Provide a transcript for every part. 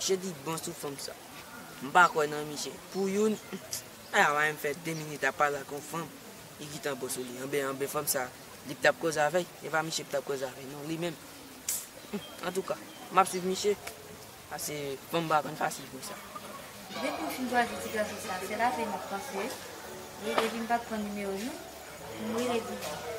Misye di bon sou fanm sa. M pa kwè nan misye. Pou youn, a la wè m fè 2 minit ap pale ak yon fanm, li gentan bon sou li. Anben, anben fanm sa, li k t ap koze avè l, e pa misye k t ap koze avè l non, li menm. Antouka, m ap swiv misye, pase fanm pa konn fasil konsa. Depi w fin chwazi ti gason sa, se l avè m ap panse. Epi m pa pran nimewo l non, pou m rele di.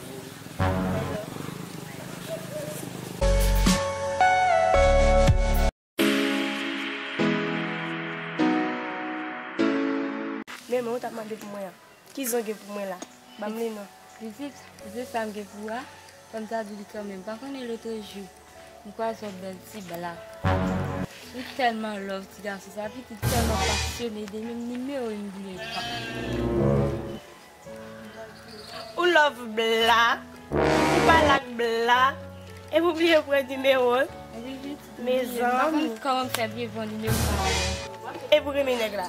Men men ou tap mande pou mwen an. Ki zen w gen pou mwen la? Banm li non. Pitit, zen sa m gen pou ou a, fò m ta di li kanmenm. Pa konnen lotrejou, m kwaze yon bèl ti blak. Li tèlman love ti gason sa, epi li tèlman pasyone de li menm, nimewo li m bliye pa. Ou love bla ou pa lak bla epi ou bliye pran nimewo'l mezanmi kòman fè bliye pran nimewo sa a menm epi ou renmen nèg la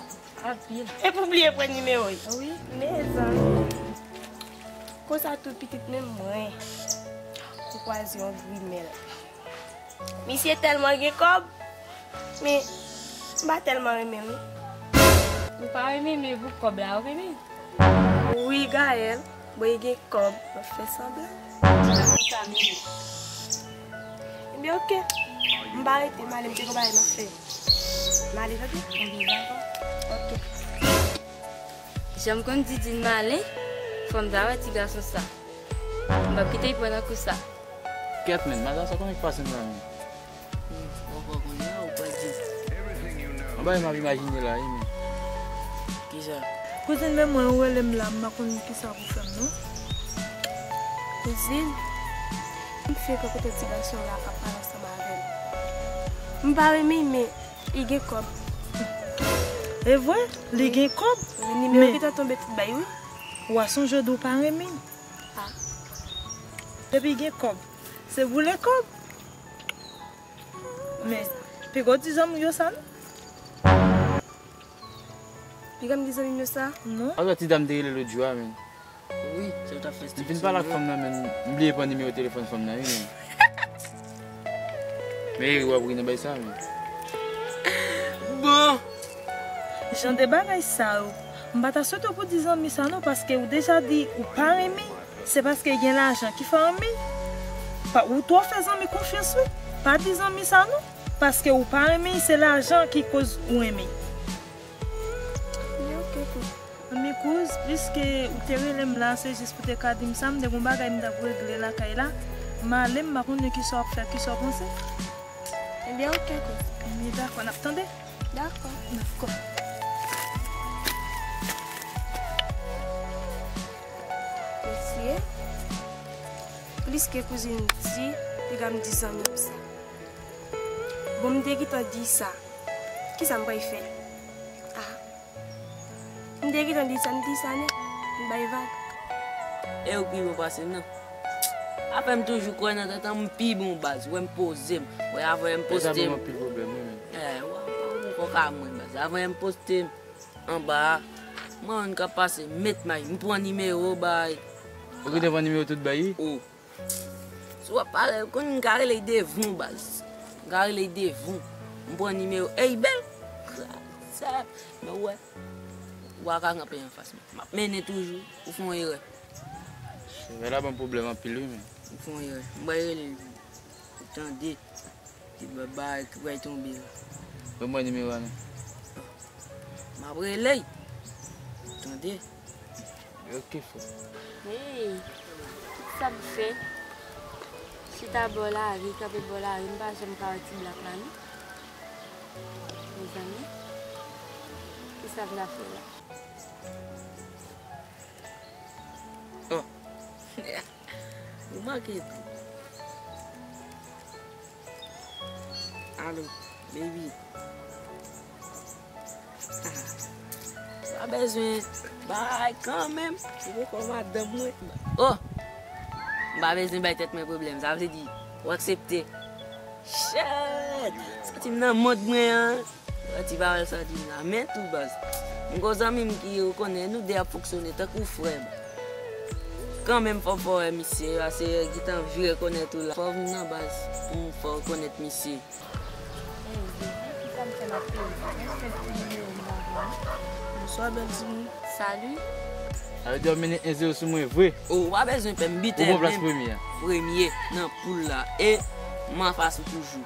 anpil epi ou bliye pran nimewo'l wi mezanmi konsa tou pitit menm mwen ou kwaze yon grimèl. Misye telman gen kob men m pa telman renmen li. Ou pa renmen men pou kob la ou renmen. Wi Gaëlle bon li gen kob map fè sanblan. Konsa menm. Ebyen ok m pa rete m ale m gen yon bagay map fè. M ale tande. Ebyen dako. Ok. Janm konn Didine malen fom ta wè ti gason sa. M pap kite li pran nan kou sa. Gèt menn, madan sa konbyen ki pase nan menn. Ou pa konn ya ou pa di. Yon bagay map imajine la wi men. Kisa? Kouzin men mwen ou relem la mpa konn kisa pou fèm non. Kouzin? Li frekant kote ti gason la ap pale ansanm avèl. Mpa renmen men li gen kòb. Evre? Li gen kòb? Wi nimewo ki ta tonbe t bay wi. Wa sonje w di w pa renmen. Ah depi gen kob se boule kob men pigaw di zanmiw yo sa non. Pigam di zanmim yo sa non. An sa ti dam te rele lot jou a menn. Wi sa yo tap fè stilisyon. M fin pale ak fanm nan menm m bliye pran nimewo telefòn fanm nan wi menn. Bon Jan de bagay sa yo. M pa ta swete w pou di zanmi sa non paske ou deja di ou pa renmen se paske gen lajan ki fè anmey pa ou twò fè zanmi konfyans wi pa di zanmi sa non paske ou pa renmen se lajan ki koz ou renmen. Anmyy kouz, piske ou te rele m la se jis pou te ka di m sa, m te gon bagay m t ap regle lakay la, m ale m pa konnen kisa w ap fè, kisa w panse? Anmyy ok kouz. Anmyy dakò, n ap tande. Dakò. Dakò. Mesye, piske kouzin m di, piga m di zanmi m sa. Bon m te gentan di sa Kisa m pral fè a M te gentan di sa m di sa nèt M bay vag E ou pi bon pase m nan Apre m toujou kwè nan tèt an M pi bon baz Wè m poze m Wè avanyè m poste m Deja m anpil pwoblèm wi menn Wè ou pa gen kòk a mwen baz Avanyè m poste m Anba a M wè moun k ap pase M met may M pran nimewo bay Ou ki te pran nimewo tout bay wi Ou. Si wap pale ou konn m ka rele devon baz. M ka rele devon. M pran nimewo ey bel. Sa men ou wè. Ou pa ka kanpe anfas mwen. Map mennen toujou. Ou fon erè. Sevè la banm pwoblèm anpil wi men. Ou fon erè. M bay rele l tou. Ou tande. Ti bèb ba a ki pral tonbe la. Ban mwen nimewo a non. Map rele l. Ou tande. Yo ki fou. Hey! Ki sa m fè? Chita bò lari, kanpe bò lari, m pa janm ka wè ti blak la non. Mezanmi, ki sa m ta fè la? Oh! Ou manke di. Alo baby ah pa bezwen bay kanmenm ou poko madanm mwen oh m pa bezwen bay tèt mwen pwoblèm sa vle di ou aksepte chèèt santi m nan mond mwen an. Yon ti pawòl santi m nan men tou baz. M gon zanmi m ki ou konnen nou 2 ap fonksyone tankou frè m. Kanmenm fò m fè w wè misye pase yo gentan vi rekonèt ou la. Fò w vin nan baz pou m fè w rekonèt misye. Hey Jezi kisa m fè map peye sa. Mwen fenk pran nimewo m pa vle an. Bonswa bèl timoun. Salut. Sa vle di wap mennen 1 zero sou mwen vre. Oh ou pa bezwen pè m bitè menm premye nan poul la e m anfas ou toujou.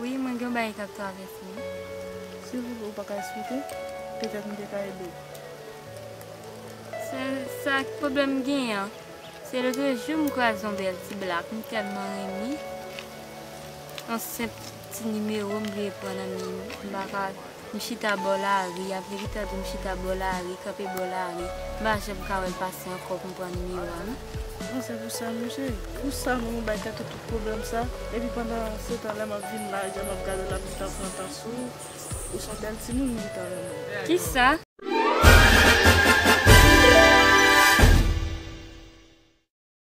Wi mwen gen yon bagay kap travèse m. Silvouplè ou pa ka esplike? Petèt m te ka ede w. Sèl sa ki pwoblèm m genyen an, se lotrejou m kwaze yon bèl ti blak m tèlman renmen, yon senp ti nimewo m bliye pran nan men li, m pa ka. M chita bò lari, a verite a di m chita bò lari, kanpe bò lari, m pa janm ka wè l pase ankò pou m pran nimewo a non. Bon se pou sa mesye, pou sa nou bay Kato tout pwoblèm sa, epi pandan se tan lè m ap vin lajè m ap gade l ap gentan pran tan sou ou, ou son bèl timoun m gentan renmen w. Kisa?